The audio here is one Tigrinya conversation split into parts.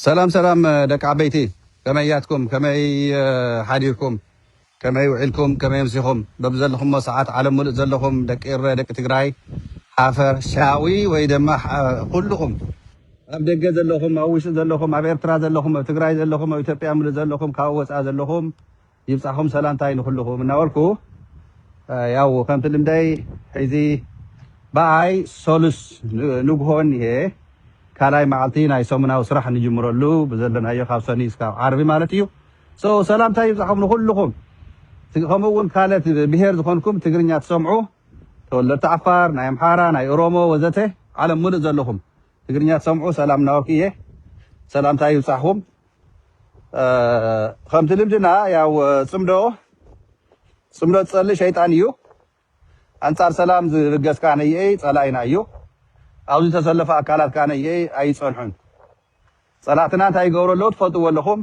ሰላም ሰላም ደቂ ዓበይቲ ከመይ ያትኩም ከመይ ሓዲርኩም ከመይ ውዒልኩም ከመይ ኣምሲኹም በብዘለኹሞ ሰዓት ዓለም ሙሉእ ዘለኹም ደቂ እረ ደቂ ትግራይ ሓፈሻዊ ወይ ድማ ኩልኹም ኣብ ደገ ዘለኹም ኣብ ውሽጢ ዘለኹም ኣብ ኤርትራ ዘለኹም ኣብ ትግራይ ዘለኹም ኣብ ኢትዮጵያ ሙሉእ ዘለኹም ካብ ወፃኢ ዘለኹም ይብጻሕኹም ሰላምታይ ንኹልኹም እናበልኩ ያው ከምቲ ልምደይ ሕዚ ብኣይ ሰሉስ ንግሆ እኒሀ ካልኣይ መዓልቲ ናይ ሰሙናዊ ስራሕ ንጅምረሉ ብዘለናዮ ካብ ሰኑይ እስካብ ዓርቢ ማለት እዩ ሰው ሰላምታይ ይብጻሕኹም ንኹልኹም ከምኡ እውን ካልኦት ብሄር ዝኾንኩም ትግርኛ ትሰምዑ ተወለድቲ ዓፋር ናይ ኣምሓራ ናይ ኦሮሞ ወዘተ ዓለም ምሉእ ዘለኹም ትግርኛ ትሰምዑ ሰላም እናበልኩ እየ ሰላምታይ ይብጻሕኹም ከምቲ ልምድና ያው ፅምዶ ፅምዶ ዝፀልእ ሸይጣን እዩ ኣንፃር ሰላም ዝብገስ ከዓ ነየይ ፀላኢና እዩ ኣብዚ ዝተሰለፈ ኣካላት ከዓ ነየይ ኣይፀንሑን ፀላእትና እንታይ ይገብሩ ኣለዉ ትፈልጥዎ ኣለኹም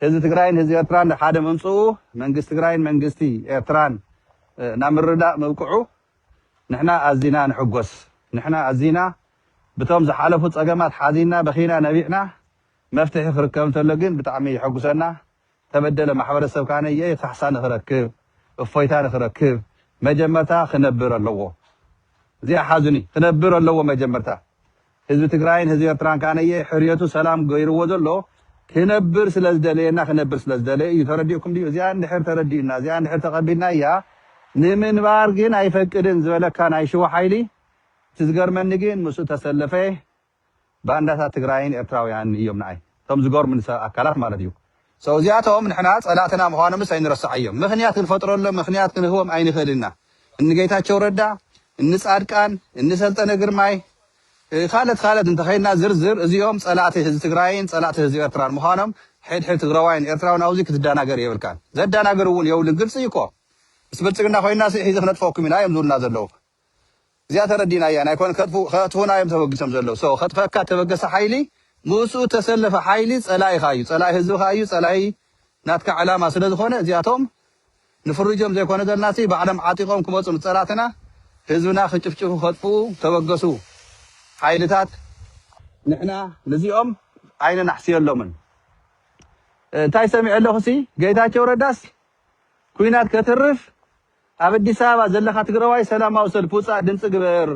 ህዝቢ ትግራይን ህዝቢ ኤርትራን ናብ ሓደ ምምፅኡ መንግስቲ ትግራይን መንግስቲ ኤርትራን ናብ ምርዳእ ምብቅዑ ንሕና ኣዚና ንሕጎስ ንሕና ኣዚና ብቶም ዝሓለፉ ፀገማት ሓዚና በኺና ነቢዕና መፍትሒ ክርከብ እንተሎ ግን ብጣዕሚ የሐጉሰና ተበደለ ማሕበረሰብ ካነየ ካሕሳ ንክረክብ እፎይታ ንክረክብ መጀመርታ ክነብር ኣለዎ እዚኣ ሓዙኒ ክነብር ኣለዎ መጀመርታ ህዝቢ ትግራይን ህዝቢ ኤርትራን ካነየ ሕርየቱ ሰላም ገይርዎ ዘሎ ክነብር ስለ ዝደለየና ክነብር ስለ ዝደለየ እዩ ተረዲኡኩም ድዩ እዚኣ እንድሕር ተረዲኡና እዚኣ እንድሕር ተቀቢልናያ ንምንባር ግን ኣይፈቅድን ዝበለካ ናይ ሽዋ ሓይሊ እቲ ዝገርመኒ ግን ምስኡ ተሰለፈ ባንዳታት ትግራይን ኤርትራውያንን እዮም ንኣይ እቶም ዝገርሙኒ ሰብ ኣካላት ማለት እዩ so እዚኣቶም ንሕና ፀላእትና ምዃኖምስ ኣይንረስዓዮም ምኽንያት ክንፈጥረሎም ምኽንያት ክንህቦም ኣይንኽእልን ኢና እኒ ጌታቸው ረዳ እኒ ፃድቃን እኒ ሰልጠነ ግርማይ ካልት ካልት እንተኸይድና ዝርዝር እዚኦም ፀላእቲ ህዝቢ ትግራይን ፀላእቲ ህዝቢ ኤርትራን ምዃኖም ሕድሕድ ትግራዋይን ኤርትራውን ኣብዚ ክትደናገር የብልካን ዘደናግር እውን የብሉን ግልፂ እዩ እኮ ምስ ብልፅግና ኮይንና ሲ ሒዚ ክነጥፈኩም ኢና እዮም ዝብሉና ዘለዉ እዚኣ ተረዲናያ ናይ ኮነ ከጥፉና እዮም ተበግሶም ዘለው so ከጥፈካ ተበገሰ ሓይሊ ምኡስኡ ተሰለፈ ሓይሊ ጸላኢኻ እዩ ጸላኢ ህዝብኻ እዩ ጸላኢ ናትካ ዕላማ ስለ ዝኾነ እዚኣቶም ንፍርጆም ዘይኮነ ዘልናሲ ባዕሎም ዓጢቆም ክመጹ ንጸላትና ህዝብና ክጭፍጭፉ ከጥፍኡ ተበገሱ ሓይልታት ንሕና ንዚኦም ኣይነናሕስየሎምን እንታይ ሰሚዐ ኣለኹሲ ገይታቸው ረዳስ ኩናት ከትርፍ ኣብ ኣዲስ ኣበባ ዘለኻ ትግረዋይ ሰላማዊ ሰልፊ ውፃእ ድምፂ ግበር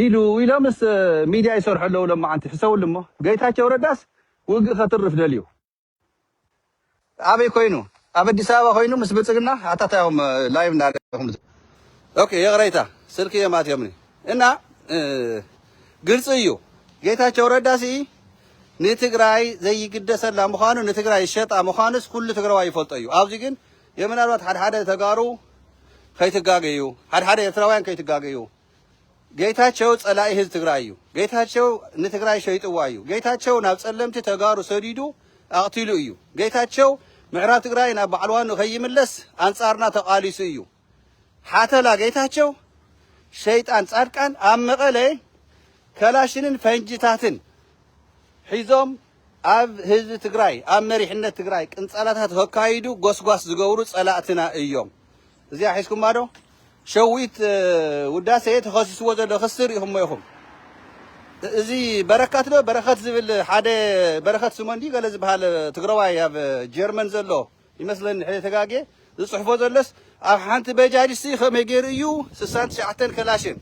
ኢሉ ኢሎምስ ሚድያ ይሰርሑ ኣለው ሎማዓንቲ ሕሰብሉ እሞ ገይታቸው ረዳስ ውግእ ከትርፍ ደልዩ ኣበይ ኮይኑ ኣብ ኣዲስ ኣበባ ኮይኑ ምስ ብልፅግና ኣታ ታይ ኢኹም ላይቭ እንዳረኹም ኦኬ ይቕረይታ ስልኪ እዮም ኣትዮምኒ እና ግልፂ እዩ ጌታቸው ረዳ ሲ ንትግራይ ዘይግደሰላ ምዃኑ ንትግራይ ሸጣ ምዃኑስ ኩሉ ትግራዋይ ይፈልጦ እዩ ኣብዚ ግን እየ ምናልባት ሓደ ሓደ ተጋሩ ከይትጋገዩ ሓደ ሓደ ኤርትራውያን ከይትጋገዩ ጌታቸው ጸላኢ ህዝቢ ትግራይ እዩ። ጌታቸው ንትግራይ ሸይጥዋ እዩ። ጌታቸው ናብ ጸለምቲ ተጋሩ ሰዲዱ ኣቕቲሉ እዩ። ጌታቸው ምዕራብ ትግራይ ናብ ባዕልዋኑ ከይምለስ ኣንጻርና ተቓሊሱ እዩ። ሓተላ ጌታቸው ሸይጣን ጻድቃን ኣብ መቐለ ከላሽንን ፈንጅታትን ሒዞም ኣብ ህዝቢ ትግራይ ኣብ መሪሕነት ትግራይ ቅንጸላታት ኸካይዱ ጎስጓስ ዝገብሩ ጸላእትና እዮም። እዚኣ ሒዝኩማ ዶ? ሸዊት ውዳሴ ተኸሲስዎ ዘሎ ክሲ ሪኢኹሞ ኢኹም። እዚ በረከት ዶ በረኸት ዝብል ሓደ በረኸት ስምኦን ድዩ ገለ ዝበሃል ትግራዋይ ኣብ ጀርመን ዘሎ ይመስለኒ ሕደ ተጋግየ ዝጽሕፎ ዘለስ ኣብ ሓንቲ በጃጅ ሲ ከመይ ገይሩ እዩ ስሳን ትሽዓተን ከላሽን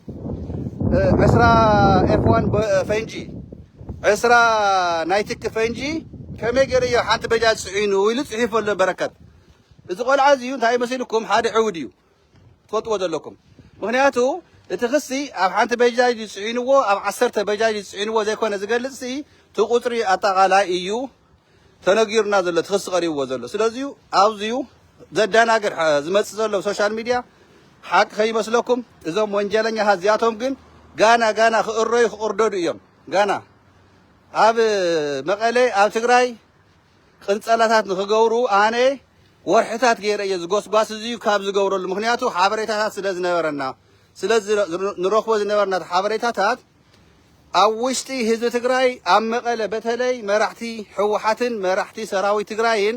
ዕስራ ኤፍ ዋን ፈንጂ ዕስራ ናይ ትኪ ፈንጂ ከመይ ገይሩ እዩ ሓንቲ በጃጅ ጽዒኑ ኢሉ ጽሒፉ ኣሎ በረከት እዚ ቆልዓ እዚ እንታይ መሲልኩም ሓደ ዕውድ እዩ ትፈልጥዎ ዘለኩም ምክንያቱ እቲ ክሲ ኣብ ሓንቲ በጃጅ እዩ ፅዒንዎ ኣብ ዓሰርተ በጃጅ እዩ ፅዒንዎ ዘይኮነ ዝገልፅ ሲ እቲ ቁፅሪ ኣጠቃላይ እዩ ተነጊሩና ዘሎ እቲ ክሲ ቀሪብዎ ዘሎ ስለዚ ኣብዚዩ ዘደናግር ዝመፅእ ዘሎ ሶሻል ሚድያ ሓቂ ከይመስለኩም እዞም ወንጀለኛታት እዚኣቶም ግን ጋና ጋና ክእረዩ ክቕርደዱ እዮም ጋና ኣብ መቐለ ኣብ ትግራይ ቅንጸላታት ንኽገብሩ ኣነ ወርሕታት ገይረ እየ ዝጎስጓስ እዚዩ ካብ ዝገብረሉ ምኽንያቱ ሓበሬታታት ስለ ዝነበረና ስለዚ ንረኽቦ ዝነበርና ሓበሬታታት ኣብ ውሽጢ ህዝቢ ትግራይ ኣብ መቐለ በተለይ መራሕቲ ሕወሓትን መራሕቲ ሰራዊት ትግራይን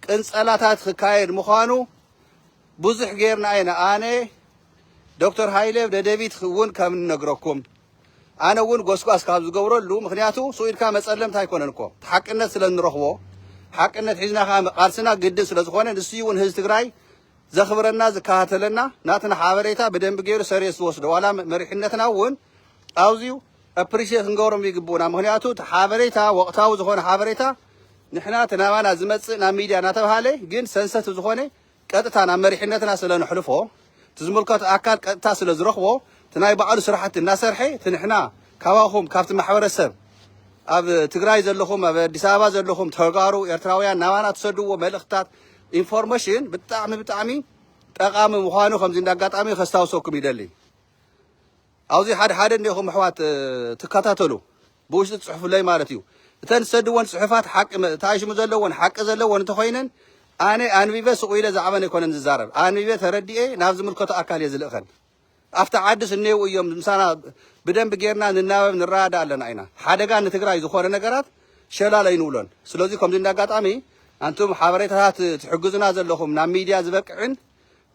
ቅንጸላታት ክካየድ ምዃኑ ብዙሕ ገይርና ኢና ኣነ ዶክተር ሃይለ ደደቢት እውን ከም ንነግረኩም ኣነ ውን ጎስጓስ ካብ ዝገብረሉ ምክንያቱ ሱቅ ኢልካ መጸለምታ ኣይኮነን እኮ እቲ ሓቅነት ስለ ንረክቦ ሓቅነት ሒዝና ከኣ መቃልስና ግድን ስለ ዝኮነ ንሱዩ ውን ህዝቢ ትግራይ ዘክብረና ዝከታተለና ናትና ሓበሬታ ብደንቢ ገይሩ ሰሪየስ ዝወስዶ ዋላ መሪሕነትና ውን ኣዝዩ ኣፕሪሼት ክንገብሮም ይግብኡና ምክንያቱ እቲ ሓበሬታ ወቅታዊ ዝኮነ ሓበሬታ ንሕና እቲ ናባና ዝመጽእ ናብ ሚድያ እናተብሃለ ግን ሰንሰቲቭ ዝኮነ ቀጥታ ናብ መሪሕነትና ስለ ነሕልፎ እቲ ዝምልከቶ ኣካል ቀጥታ ስለ ዝረኽቦ እቲ ናይ ባዕሉ ስራሕቲ እናሰርሐ እቲ ንሕና ካባኹም ካብቲ ማሕበረሰብ ኣብ ትግራይ ዘለኹም ኣብ ኣዲስ ኣበባ ዘለኹም ተጋሩ ኤርትራውያን ናባና ትሰድዎ መልእኽትታት ኢንፎርሜሽን ብጣዕሚ ብጣዕሚ ጠቓሚ ምዃኑ ከምዚ እንደ ኣጋጣሚ ከስታውሰኩም ይደሊ ኣብዚ ሓደ ሓደ እንዲኹም ኣሕዋት ትከታተሉ ብውሽጢ ትጽሕፉለይ ማለት እዩ። እተን ትሰድወን ጽሑፋት ሓቂ ተኣሽሙ ዘለወን ሓቂ ዘለወን እንተኾይነን ኣነ ኣንቢበ ስቕ ኢለ ዛዕበን ኣይኮነን ዝዛረብ ኣንቢበ ተረዲኤ ናብ ዝምልከቶ ኣካል እየ ዝልእኸን። ኣብቲ ዓድስ እኔው እዮም ምሳና ብደንብ ጌርና ንናበብ ንረዳዳ ኣለና ኢና። ሓደጋ ንትግራይ ዝኾነ ነገራት ሸላል ኣይንብሎን። ስለዚ ከምዚ እንደ ኣጋጣሚ ኣንቱም ሓበሬታታት ትሕግዙና ዘለኹም ናብ ሚድያ ዝበቅዕን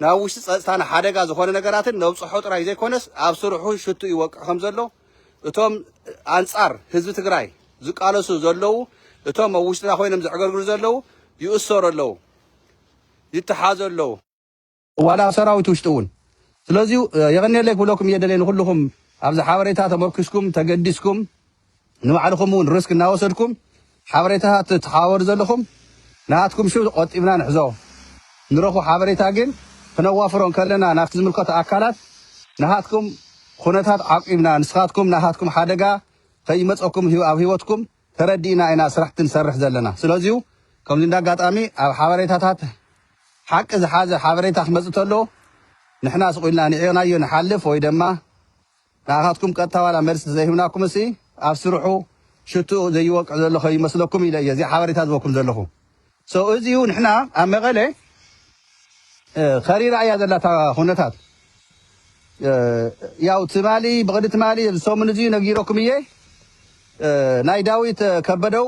ናብ ውሽጢ ጸጥታና ሓደጋ ዝኾነ ነገራትን ነብጽሖ ጥራይ ዘይኮነስ ኣብ ስርሑ ሽትኡ ይወቅዕ ከምዘሎ እቶም ኣንጻር ህዝቢ ትግራይ ዝቃለሱ ዘለዉ እቶም ኣብ ውሽጥና ኮይኖም ዘዕገርግሩ ዘለዉ ይእሰሩ ኣለዉ ይተሓዙ ኣለዉ ዋላ ኣብ ሰራዊት ውሽጢ እውን ስለዚ የቐንየለይ ክብለኩም እየ ደልየ ንኹልኹም ኣብዚ ሓበሬታ ተመርኲስኩም ተገዲስኩም ንባዕልኹም እውን ርስክ እናወሰድኩም ሓበሬታታት ትተሓባበሩ ዘለኹም ናሃትኩም ሽም ቆጢብና ንሕዞ። ንረኽቦ ሓበሬታ ግን ክነዋፍሮ እንከለና ናብቲ ዝምልከቶ ኣካላት ናሃትኩም ኹነታት ዓቂብና ንስኻትኩም ናሃትኩም ሓደጋ ከይመጸኩም ኣብ ሂወትኩም ተረዲእና ኢና ስራሕቲ ንሰርሕ ዘለና። ስለዚዩ ከምዚ እንዳ ኣጋጣሚ ኣብ ሓበሬታታት ሓቂ ዝሓዘ ሓበሬታ ክመጽእ ተሎ ንሕና ስቕ ኢልና ንዒቕናዮ ንሓልፍ ወይ ደማ ንዓኻትኩም ቀጥታ ዋላ መልሲ ተዘይህብናኩምሲ ኣብ ስርሑ ሽትኡ ዘይወቅዕ ዘሎ ከይመስለኩም ኢለ እየ እዚ ሓበሬታ ዝህበኩም ዘለኹ so እዚ እዩ ንሕና ኣብ መቐለ ከሪራ እያ ዘላ እታ ኩነታት ያው ትማሊ ብቕዲ ትማሊ እዚ ሰሙን እዚ ነጊረኩም እየ ናይ ዳዊት ከበደው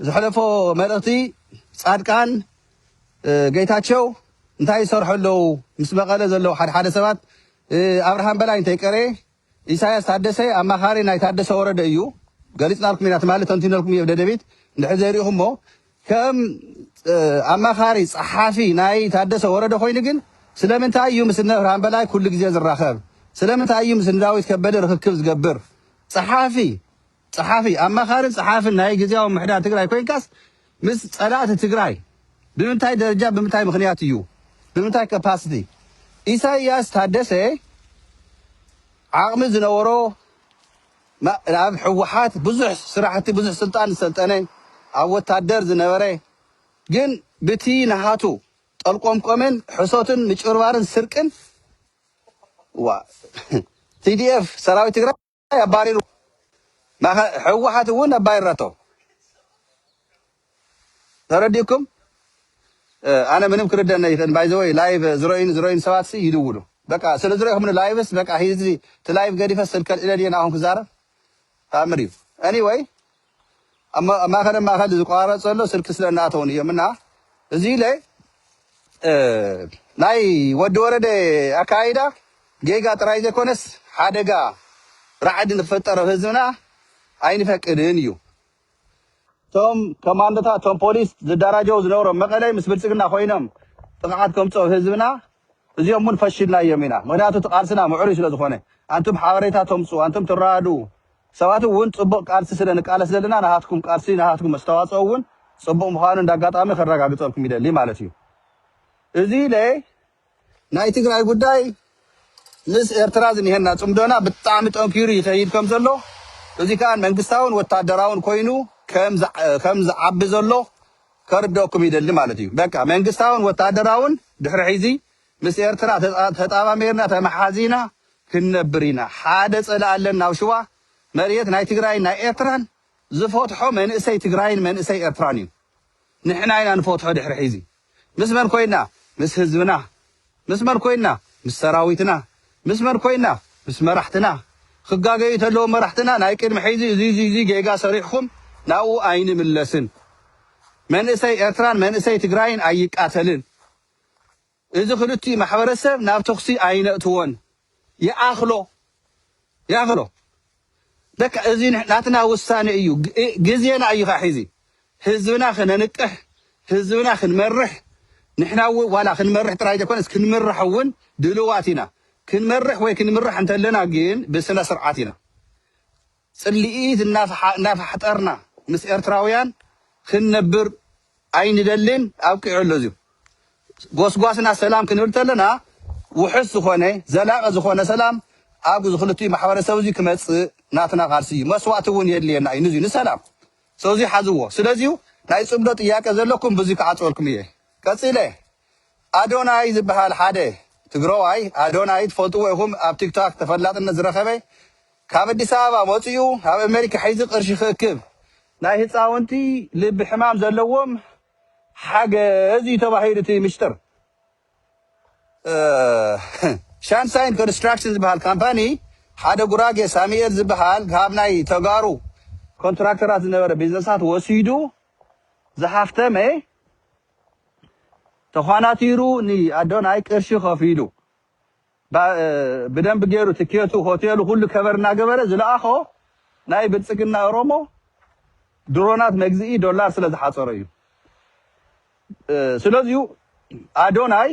ዝሕለፎ መልእኽቲ ጻድቃን ጌታቸው እንታይ ይሰርሑ ኣለዉ ምስ መቐለ ዘለዉ ሓደሓደ ሰባት ኣብርሃም በላይ እንተይቀረየ ኢሳያስ ታደሰ ኣማኻሪ ናይ ታደሰ ወረደ እዩ ገሊፅናልኩም ኢና ትማሊ ተንቲነልኩም እየ ደደቢት እንድሕር ዘይሪኢኹሞ ከም ኣማኻሪ ፀሓፊ ናይ ታደሰ ወረደ ኮይኑ ግን ስለምንታይ እዩ ምስ ኣብርሃም በላይ ኩሉ ግዜ ዝራኸብ ስለምንታይ እዩ ምስ ዳዊት ከበደ ርክክብ ዝገብር ፀሓፊ ጸሓፊ፣ ኣማኻርን ጸሓፍን ናይ ግዝያዊ ምምሕዳር ትግራይ ኮይንካስ ምስ ጸላእቲ ትግራይ ብምንታይ ደረጃን ብምንታይ ምኽንያት እዩ? ብምንታይ capacity? ኢሳይያስ ታደሰ ዓቕሚ ዝነበሮ ኣብ ህወሓት ብዙሕ ስራሕቲ ብዙሕ ስልጣን ዝሰልጠነ ኣብ ወታደር ዝነበረ ግን ብቲ ናሃቱ ጠልቆምቆምን ሕሶትን ምጭብርባርን ስርቅን ዋ TDF ሰራዊት ትግራይ ኣባሪሩ ማእኸ- ህወሓት እውን ኣባሪራቶ ተረዲኡኩም እ፣ ኣነ ምንም ክርደነ ይኽእል ባይዘወይ ላይቭ ዝረዩን ዝረዩን ሰባት ሲ ይድውሉ በቃ ስለ ዝረኹምኒ ላይቭስ በቃ ሂዚ እቲ ላይቭ ገዲፈ ስልከ ልዒለ ድየ ንኣኹም ክዛረብ ተኣምር እዩ ኤኒወይ ኣብ ማእኸለ ማእኸል ዝቆራረፅ ዘሎ ስልኪ ስለ እናኣተዉኒ እዮም እና እዚ ኢለ ናይ ወዲ ወረደ ኣካይዳ ጌጋ ጥራይ ዘይኮነስ ሓደጋ ራዕዲ ንክፍጠር ኣብ ህዝብና ኣይንፈቅድን እዩ እቶም ኮማንዶታት እቶም ፖሊስ ዝደራጀው ዝነበሮም መቐለይ ምስ ብልፅግና ኮይኖም ጥቕዓት ከምፅኦ ህዝብና እዚኦም እውን ፈሽልናዮም ኢና ምክንያቱ እቲ ቃልስና ምዕሩይ ስለዝኾነ ኣንቱም ሓበሬታ ተምፁ ኣንቱም ትረዳድኡ ሰባት እውን ፅቡቕ ቃልሲ ስለ ንቃለስ ዘለና ናሃትኩም ቃልሲ ናሃትኩም ኣስተዋፅኦ እውን ፅቡቕ ምዃኑ እንዳ ኣጋጣሚ ከረጋግፀልኩም ይደሊ ማለት እዩ። እዚ ኢለ ናይ ትግራይ ጉዳይ ምስ ኤርትራ ዝኒሀና ፅምዶና ብጣዕሚ ጠንኪሩ ይኸይድ ከም ዘሎ እዚ ከዓ መንግስታውን ወታደራውን ኮይኑ ከም ዝዓቢ ዘሎ ከርደኣኩም ይደሊ ማለት እዩ። በቃ መንግስታውን ወታደራውን ድሕሪ ሕዚ ምስ ኤርትራ ተጣማሚርና ተማሓዚና ክንነብር ኢና ሓደ ጸላኢ ኣለና ኣብ ሽዋ መርየት ናይ ትግራይን ናይ ኤርትራን ዝፈትሖ መንእሰይ ትግራይን መንእሰይ ኤርትራን እዩ ንሕና ኢና ንፈትሖ ድሕሪ ሒዚ ምስ መን ኮይና ምስ ህዝብና ምስ መን ኮይና ምስ ሰራዊትና ምስ መን ኮይና ምስ መራሕትና ክጋገዩ ተለዎም መራሕትና ናይ ቅድሚ ሒዚ እዚ እዚ እዚ ጌጋ ሰሪሕኩም ናብኡ ኣይንምለስን መንእሰይ ኤርትራን መንእሰይ ትግራይን ኣይቃተልን እዚ ክልቲኡ ማሕበረሰብ ናብ ተኹሲ ኣይነእትዎን ይኣኽሎ ይኣኽሎ በቃ እዚ ናትና ውሳነ እዩ ግዜና እዩ ኸዓ ሒዚ ህዝብና ክነንቅሕ ህዝብና ክንመርሕ ንሕና እውን ዋላ ክንመርሕ ጥራይ ዘይኮነስ ክንምራሕ እውን ድልዋት ኢና ክንመርሕ ወይ ክንምራሕ እንተለና ግን ብስነ ስርዓት ኢና ጽልኢት እናፋሕጠርና ምስ ኤርትራውያን ክንነብር ኣይንደልን ኣብቂዑ ኣሎ እዚ ጎስጓስና ሰላም ክንብል ተለና ውሑስ ዝኾነ ዘላቂ ዝኾነ ሰላም ኣብ እዚ ክልቲኡ ማሕበረሰብ እዚ ክመጽእ ናትና ቃልሲ እዩ መስዋእቲ እውን የድልየና እዩ ንዚ ንሰላም ሰው እዚ ሓዝዎ ስለዚ ናይ ጽምዶ ጥያቄ ዘለኩም ብዙ ክዓጽወልኩም እየ ቀጺለ ኣዶናይ ዝበሃል ሓደ ትግረዋይ ኣዶናይ ትፈልጥዎ ኢኹም ኣብ ቲክቶክ ተፈላጥነት ዝረኸበ ካብ ኣዲስ ኣበባ ወጺኡ ኣብ ኣመሪካ ሒዙ ቅርሺ ክእክብ ናይ ህጻውንቲ ልቢ ሕማም ዘለዎም ሓገዝ እዩ ተባሂሉ እቲ ምሽጥር ሻንሳይን ኮንስትራክሽን ዝበሃል ካምፓኒ ሓደ ጉራጌ ሳሙኤል ዝበሃል ካብ ናይ ተጋሩ ኮንትራክተራት ዝነበረ ቢዝነሳት ወሲዱ ዝሃፍተመ ተዃናቲሩ ንኣዶናይ ቅርሺ ከፊሉ ብደንቢ ገይሩ ትኬቱ ሆቴሉ ኩሉ ከቨር እናገበረ ዝለኣኾ ናይ ብልፅግና ኦሮሞ ድሮናት መግዝኢ ዶላር ስለዝሓፀሮ እዩ። ስለዚዩ ኣዶናይ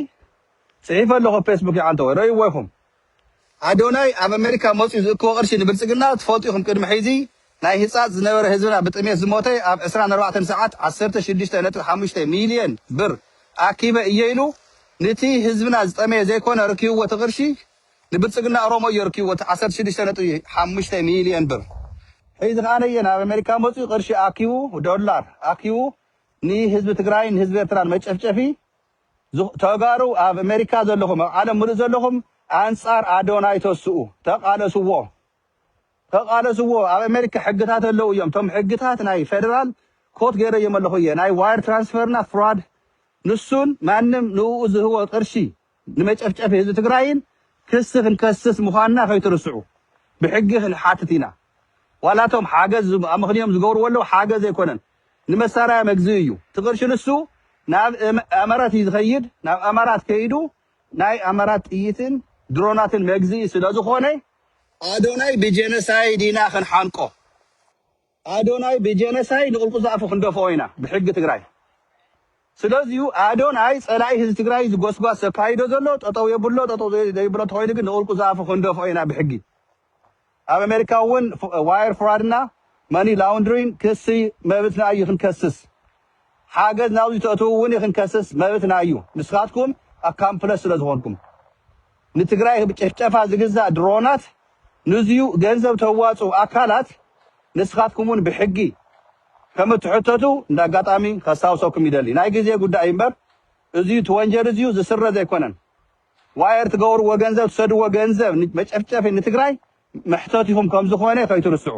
ፅሒፈ ኣለኹ ፌስቡክ ይዓንተወ ረእይዎ ኢኹም። ኣዶናይ ኣብ ኣሜሪካ መፅኡ ዝእክቦ ቅርሺ ንብልፅግና ትፈልጡ ኢኹም ቅድሚ ሕዚ ናይ ህጻጽ ዝነበረ ህዝብና ብጥሜት ዝሞተ ኣብ ዕስራን ኣርባዕተን ሰዓት ዓሰርተ ሽዱሽተ ነጥቢ ሓሙሽተ ሚልዮን ብር ኣኪበ እየ ኢሉ ንቲ ህዝብና ዝጠመየ ዘይኮነ ኣረኪብዎ እቲ ቅርሺ ንብልጽግና ኦሮሞ እዮ ኣርኪብዎ እቲ ዓሰርተ ሽዱሽተ ነጥቢ ሓሙሽተ ሚልዮን ብር ሕዚ ከኣ ነየ ናብ ኣሜሪካ መጽዩ ቅርሺ ኣኪቡ ዶላር ኣኪቡ ንህዝቢ ትግራይን ንህዝቢ ኤርትራን መጨፍጨፊ ዝኽ ተጋሩ ኣብ ኣሜሪካ ዘለኹም ኣብ ዓለም ምሉእ ዘለኹም ኣንጻር ኣዶናይ ተስኡ ተቃለስዎ ተቃለስዎ ኣብ ኣሜሪካ ሕግታት ኣለው እዮም እቶም ሕግታት ናይ ፌደራል ኮት ገይረዮም ኣለኹ እየ ናይ ዋይር ትራንስፈር እና ፍራድ ንሱን ማንም ንእኡ ዝህቦ ቅርሺ ንመጨፍጨፊ ህዝቢ ትግራይን ክሲ ክንከስስ ምዃንና ከይትርስዑ ብሕጊ ክንሓትት ኢና ዋላ እቶም ሓገዝ ኣመኽንዮም ዝገብርዎ ኣለው ሓገዝ ኣይኮነን ንመሳርያ መግዝኢ እዩ እቲ ቅርሺ ንሱ ናብ ኣመራት እዩ ዝኸይድ ናብ ኣማራት ከይዱ ናይ ኣመራት ጥይትን ድሮናትን መግዝኢ ስለዝኾነ ኣዶናይ ብጀነሳይድ ኢና ክንሓንቆ ኣዶናይ ብጀነሳይድ ንቁልቁል ዝኣፉ ክንደፍኦ ኢና ብሕጊ ትግራይ ስለዚዩ ኣዶናይ ፀላኢ ህዝቢ ትግራይ ዝጎስጓስ ዘካይዶ ዘሎ ጠጠው የብሎ ጠጠው ዘይብሎ ተኾይኑ ግን ንቁልቁል ዝኣፉ ክንደፍኦ ኢና ብሕጊ ኣብ ኣሜሪካ እውን ዋየር ፍራድ እና መኒ ላውንድሪን ክሲ መብትና እዩ ክንከስስ ሓገዝ ናብዙ ተእትው እውን እዩ ክንከስስ መብትና እዩ ንስካትኩም ኣካምፕለስ ስለ ዝኮንኩም ንትግራይ ጨፍጨፋ ዝግዛእ ድሮናት ንዙዩ ገንዘብ ተዋፁ ኣካላት ንስካትኩም እውን ብሕጊ ከም እትሕተቱ እንደ ኣጋጣሚ ከስታውሰኩም ይደሊ ናይ ግዜ ጉዳይ እዩ እምበር እዙዩ ትወንጀል እዙዩ ዝስረዝ ኣይኮነን ዋየር ትገብርዎ ገንዘብ ትሰድዎ ገንዘብ መጨፍጨፊ ንትግራይ መሕተቲኹም ከምዝኾነ ከይትርስዑ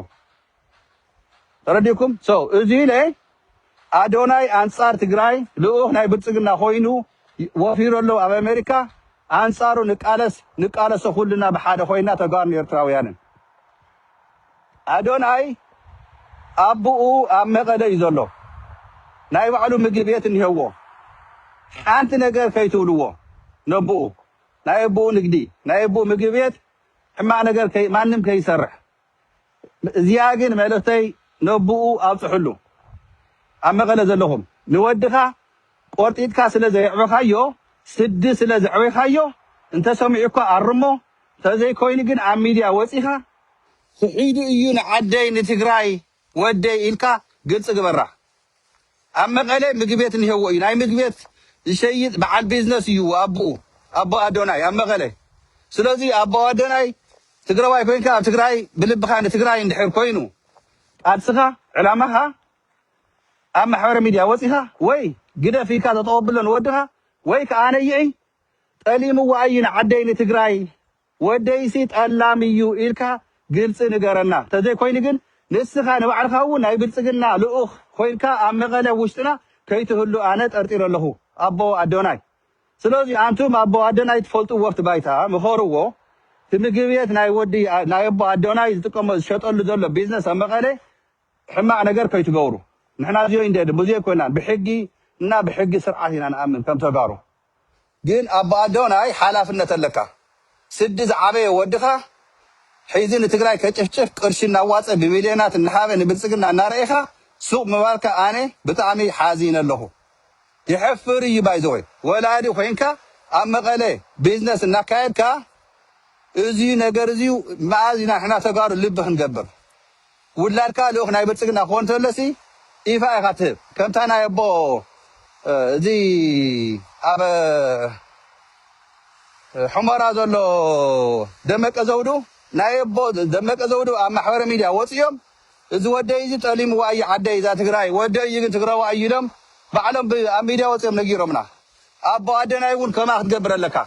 ተረዲኩም so እዚ ኢለ ኣዶናይ ኣንጻር ትግራይ ልኡኽ ናይ ብልጽግና ኮይኑ ወፊሩ ኣሎ ኣብ ኣሜሪካ ኣንጻሩ ንቃለስ ንቃለሶ ኩልና ብሓደ ኮይና ተጋሩን ኤርትራውያንን ኣዶናይ ኣቡኡ ኣብ መቀለ እዩ ዘሎ ናይ ባዕሉ ምግቢ ቤት እኒሀዎ ሓንቲ ነገር ከይትብልዎ ነቡኡ ናይ ኣቡኡ ንግዲ ናይ ኣቡኡ ምግቢ ቤት ሕማቅ ነገር ከይ ማንም ከይሰርሕ እዚኣ ግን መልእክተይ ነቡኡ ኣብፅሕሉ ኣብ መቀለ ዘለኹም ንወድኻ ቆርጢጥካ ስለ ዘየዕበኻዮ ስዲ ስለ ዘዕበይካዮ እንተ ሰሚዑካ ኣርሞ ተዘይ ኮይኑ ግን ኣብ ሚድያ ወጺኻ ክሒዱ እዩ ንዓደይ ንትግራይ ወደይ ኢልካ ግልጺ ግበራ ኣብ መቀለ ምግቤት እንሄዎ እዩ ናይ ምግቤት ዝሸይጥ በዓል ቢዝነስ እዩ ኣቡኡ ኣቦ ኣዶናይ ኣብ መቀለ ስለዚ ኣቦ ኣዶናይ ትግረዋይ ኮይንካ ኣብ ትግራይ ብልብኻ ንትግራይ እንድሕር ኮይኑ ቃልስኻ ዕላማኻ ኣብ ማሕበረ ሚድያ ወጺኻ ወይ ግደፍ ኢልካ ጠጠው ኣብሎ ንወድኻ ወይ ክኣ ነይዒ ጠሊምዋ ኣዩ ንዓደይ ንትግራይ ወደይሲ ጠላም ኢዩ ኢልካ ግልጺ ንገረና ተዘይ ኮይኑ ግን ንስኻ ንባዕልኻ ውን ናይ ብልጽግና ልኡኽ ኮይንካ ኣብ መቐለ ኣብ ውሽጥና ከይትህሉ ኣነ ጠርጢረ ኣለኹ ኣቦ ኣዶናይ ስለዚ ኣንቱም ኣቦ ኣደናይ ትፈልጥዎ ኣብቲ ባይታ ምኸርዎ እቲ ምግብየት ናይ ወዲ ናይ ኣቦ ኣዶናይ ዝጥቀሞ ዝሸጠሉ ዘሎ ቢዝነስ ኣብ መቐለ ሕማቅ ነገር ከይትገብሩ ንሕና እዚዮ ኢንደድ ሙዚየ ኮይናን ብሕጊ እና ብሕጊ ስርዓት ኢና ንኣምን ከም ተጋሩ ግን ኣቦ ኣዶናይ ሓላፍነት ኣለካ ስዲ ዝዓበየ ወድካ ሒዚ ንትግራይ ከጭፍጭፍ ቅርሺ እናዋፀ ብሚልዮናት እናሃበ ንብልፅግና እናረኤካ ሱቅ ምባልካ ኣነ ብጣዕሚ ሓዚነ ኣለኩ የሕፍር እዩ ባይዘወይ ወላዲ ኮይንካ ኣብ መቀለ ቢዝነስ እናካየድካ እዙይ ነገር እዙይ መኣዝ ኢና ንሕና ተጋሩ ልቢ ክንገብር ውላድካ ልኡኽ ናይ ብልጽግና ክኾን እንተሎሲ ኢፋ ኢኻ ትህብ ከምታ ናይ ኣቦ እዚ ኣብ ሑመራ ዘሎ ደመቀ ዘውዱ ናይ ኣቦ ደመቀ ዘውዱ ኣብ ማሕበረ ሚድያ ወጽዮም እዚ ወደይ እዚ ጠሊምዋ እዩ ዓደይ እዛ ትግራይ ወደይ እዩ ግን ትግራዋ እዩ ኢሎም ባዕሎም ብ- ኣብ ሚድያ ወጽዮም ነጊሮምና ኣቦ ኣደናይ እውን ከማ ክትገብር ኣለካ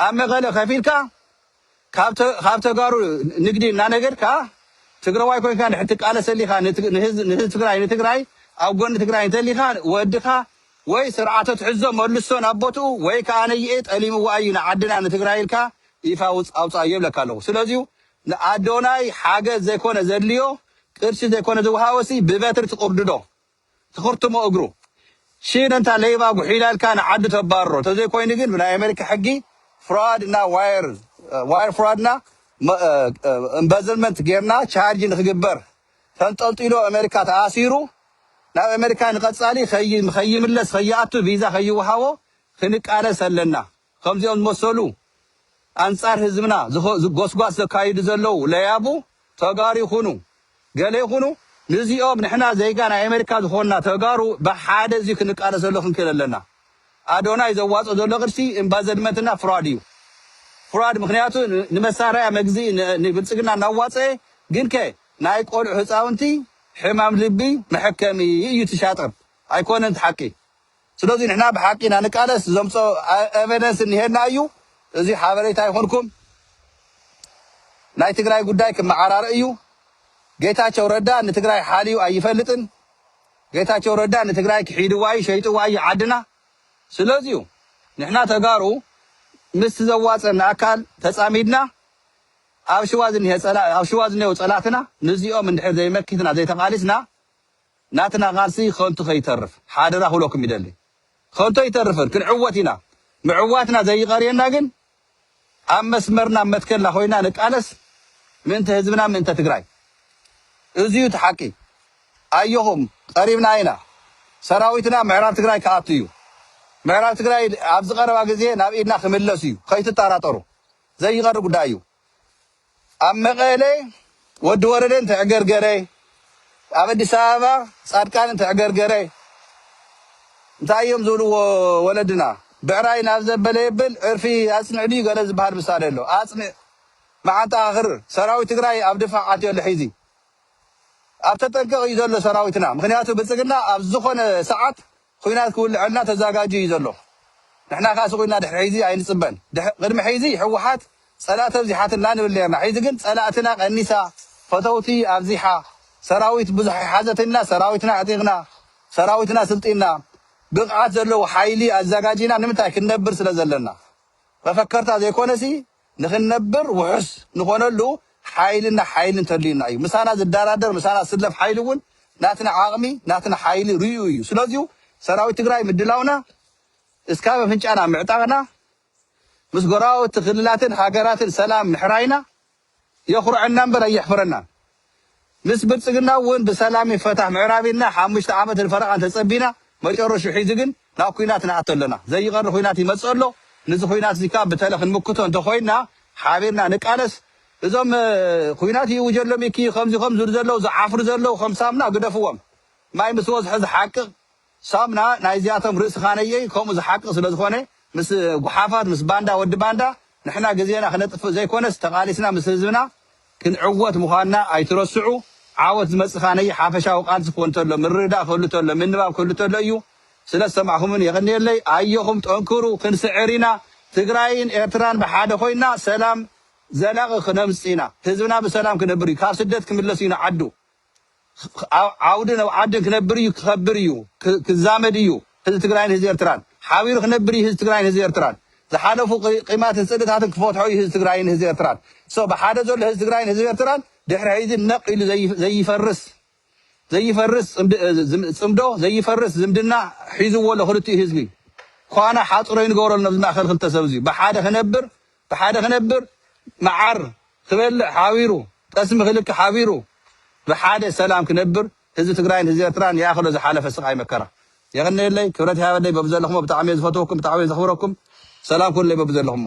ኣብ መቐለ ከፊልካ ካብ ተጋሩ ንግዲ እናነገድካ ትግረዋይ ኮይንካ እንድሕር ትቃለስ ተሊኻ ንህዝቢ ትግራይ ንትግራይ ኣብ ጎኒ ትግራይ እንተሊኻ ወድኻ ወይ ስርዓቶ ትሕዞ መልሶ ናብ ቦትኡ ወይ ከዓ ነይኤ ጠሊምዎ ኣዩ ንዓድና ንትግራይ ኢልካ ይፋ ውፅ ኣውፃእ የብለካ ኣለኹ ስለዚዩ ንኣዶናይ ሓገዝ ዘይኮነ ዘድልዮ ቅርሺ ዘይኮነ ዝወሃቦሲ ብበትሪ ትቕርድዶ ትኽርትሞ እግሩ። ሺን እንታ ለይባ ጉሒላ ኢልካ ንዓዱ ተባርሮ ተዘይ ኮይኑ ግን ብናይ ኣመሪካ ሕጊ ፍራድ እና ዋየር ዋየር ፍራድ እና እምበዝልመንት ጌርና ቻርጅ ንክግበር ተንጠልጢሉ ኣመሪካ ተኣሲሩ ናብ ኣመሪካ ንቀጻሊ ከይ ከይምለስ ከይኣቱ ቪዛ ከይወሃቦ ክንቃለስ ኣለና። ኸምዚኦም ዝመሰሉ ኣንጻር ህዝብና ጎስጓስ ዘካይዱ ዘለዉ ለያቡ ተጋሩ ይኹኑ ገለ ይኹኑ ንዚኦም ንሕና ዜጋ ናይ ኣሜሪካ ዝኾንና ተጋሩ ብሓደ እዚ ክንቃለሰሉ ክንክእል ኣለና። ኣዶናይ ዘዋጽኦ ዘሎ ቅርሲ እምባዘድመንትና ፍራድ እዩ ፍራድ ምኽንያቱ ንመሳረያ መግዝኢ ንብልጽግና እናዋጸኤ ግንከ ናይ ቆልዑ ህጻውንቲ ሕማም ልቢ መሐከሚ እዩ እቲ ሻጥር ኣይኮነን እቲ ሓቂ ስለዚ ንሕና ብሓቂ ኢና ንቃለስ ዘምጾ ኤቨደንስ እኒሄና እዩ እዚ ሓበሬታ ይኹንኩም ናይ ትግራይ ጉዳይ ክመዓራረ እዩ ጌታቸው ረዳ ንትግራይ ሓልዩ ኣይፈልጥን ጌታቸው ረዳ ንትግራይ ክሒድዋ እዩ ሸይጥዋ እዩ ዓድና ስለዚ እዩ ንሕና ተጋሩ ምስቲ ዘዋፀና ኣካል ተፃሚድና ኣብ ሽዋ ዝኒሄ ኣብ ሽዋ ዝኒሄው ፀላእትና ንዚኦም እንድሕር ዘይመኪትና ዘይተቓሊስና ናትና ቃልሲ ከንቱ ከይተርፍ ሓደራ ክብለኩም ይደሊ። ከንቱ ኣይተርፍን ክንዕወት ኢና። ምዕዋትና ዘይቐርየና ግን ኣብ መስመርና ኣብ መትከልና ኮይና ንቃለስ ምእንተ ህዝብና ምእንተ ትግራይ። እዚ እዩ እቲ ሓቂ። ኣየኹም ቀሪብና ኢና። ሰራዊትና ምዕራብ ትግራይ ክኣቱ እዩ። ምዕራብ ትግራይ ኣብዚ ቀረባ ግዜ ናብ ኢድና ክምለስ እዩ። ከይትጣራጠሩ። ዘይቐሪ ጉዳይ እዩ። ኣብ መቐለ ወዲ ወረደ እንተዕገርገረ፣ ኣብ ኣዲስ ኣበባ ጻድቃን እንተዕገርገረ እንታይ እዮም ዝብልዎ ወለድና ብዕራይ ናብ ዘበለ የብል ዕርፊ ኣጽንዕ ድዩ ገለ ዝበሃል ምሳሌ ኣሎ። ኣጽንዕ መዓንጣኻ ክርር። ሰራዊት ትግራይ ኣብ ድፋዕ ኣትዩ ኣሎ ሕዚ። ኣብ ተጠንቀቕ እዩ ዘሎ ሰራዊትና። ምክንያቱ ብልጽግና ኣብ ዝኾነ ሰዓት ኹናት ክውልዐልና ተዛጋጅዩ እዩ ዘሎ ንሕና ከኣ ስቁ ኢልና ድሕሪ ሕይዚ ኣይንጽበን ቅድሚ ሕይዚ ሕውሓት ጸላእቲ ኣብዚሓትልና ንብል ነርና ሕይዚ ግን ጸላእትና ቀኒሳ ፈተውቲ ኣብዚሓ ሰራዊት ብዙሕ ሓዘት ኢልና ሰራዊትና ኣዕጢቅና ሰራዊትና ስልጢና ብቅዓት ዘለዎ ሓይሊ ኣዛጋጂና ንምንታይ ክንነብር ስለ ዘለና መፈከርታ ዘይኮነሲ ንኽንነብር ውሑስ ንኾነሉ ሓይልና ሓይሊ እንተልዩና እዩ። ምሳና ዝዳራደር ምሳና ዝስለፍ ሓይሊ እውን ናትና ዓቕሚ ናትና ሓይሊ ርእዩ እዩ። ስለዚሁ ሰራዊት ትግራይ ምድላውና እስካብ ኣፍንጫና ምዕጣቕና ምስ ጎረባብቲ ክልላትን ሃገራትን ሰላም ምሕራይና የኹርዐና እምበር ኣየሕፍረናን። ምስ ብልጽግና ውን ብሰላም ይፈታሕ ምዕራብ ኢልና ሓሙሽተ ዓመትን ፈረቓን ተጸቢና መጨረሽኡ ሒዙ ግን ናብ ኩናት ንኣቱ ኣለና ዘይቐሪ ኩናት ይመጽእ ኣሎ ንዚ ኩናትዚ ከኣ ብተለ ክንምክቶ እንተኾይንና ሓቢርና ንቃለስ እዞም ኩናት ይእውጀሎም ኢኪ ከምዚ ከምዝሉ ዘለው ዝዓፍሩ ዘለው ከም ሳሙና ግደፍዎም ማይ ምስ ወዝሐ ዝሓቅቕ ሳምና ናይ እዚኣቶም ርእሲ ካነየይ ከምኡ ዝሓቂ ስለ ዝኮነ ምስ ጉሓፋት ምስ ባንዳ ወዲ ባንዳ ንሕና ግዜና ክነጥፍእ ዘይኮነስ ተቃሊስና ምስ ህዝብና ክንዕወት ምኳንና ኣይትረስዑ ዓወት ዝመጽእ ካነይ ሓፈሻዊ ቃልሲ ክኮን ተሎ ምርድዳእ ክህሉ ተሎ ምንባብ ክህሉ ተሎ እዩ ስለ ዝሰማዕኩምኒ የቀንየለይ ኣዮኹም ጠንክሩ ክንስዕር ኢና ትግራይን ኤርትራን ብሓደ ኮይና ሰላም ዘላቂ ክነምጽ ኢና ህዝብና ብሰላም ክነብር እዩ ካብ ስደት ክምለስ እዩ ንዓዱ ኣብ ዓውዲ ኣብ ዓዲ ክነብር እዩ ክከብር እዩ ክዛመድ እዩ ህዝቢ ትግራይን ህዝቢ ኤርትራን ሓቢሩ ክነብር እዩ ህዝቢ ትግራይን ህዝቢ ኤርትራን ዝሓለፉ ቂማትን ጽልእታትን ክፈትሖ እዩ ህዝቢ ትግራይን ህዝቢ ኤርትራን so ብሓደ ዘሎ ህዝቢ ትግራይን ህዝቢ ኤርትራን ድሕሪ ሕዚ ነቅ ኢሉ ዘይፈርስ ዘይፈርስ ጽምዶ ዘይፈርስ ዝምድና ሒዝዎ ኣሎ ክልቲኡ ህዝቢ ኳና ሓጽሮ ይንገበረሉ ነብዚ ማእከል ክልተ ሰብ እዚ ብሓደ ክነብር ብሓደ ክነብር መዓር ክበልዕ ሓቢሩ ጠስሚ ክልኪ ሓቢሩ ብሓደ ሰላም ክነብር ህዝቢ ትግራይን ህዝቢ ኤርትራን ይኣኽሎ ዝሓለፈ ስቃይ መከራ። የቀንየለይ ክብረት ይሃበለይ በብዘለኹሞ ብጣዕሚ እየ ዝፈትወኩም ብጣዕሚ እየ ዘኽብረኩም ሰላም ኩኑለይ በብዘለኹሞ።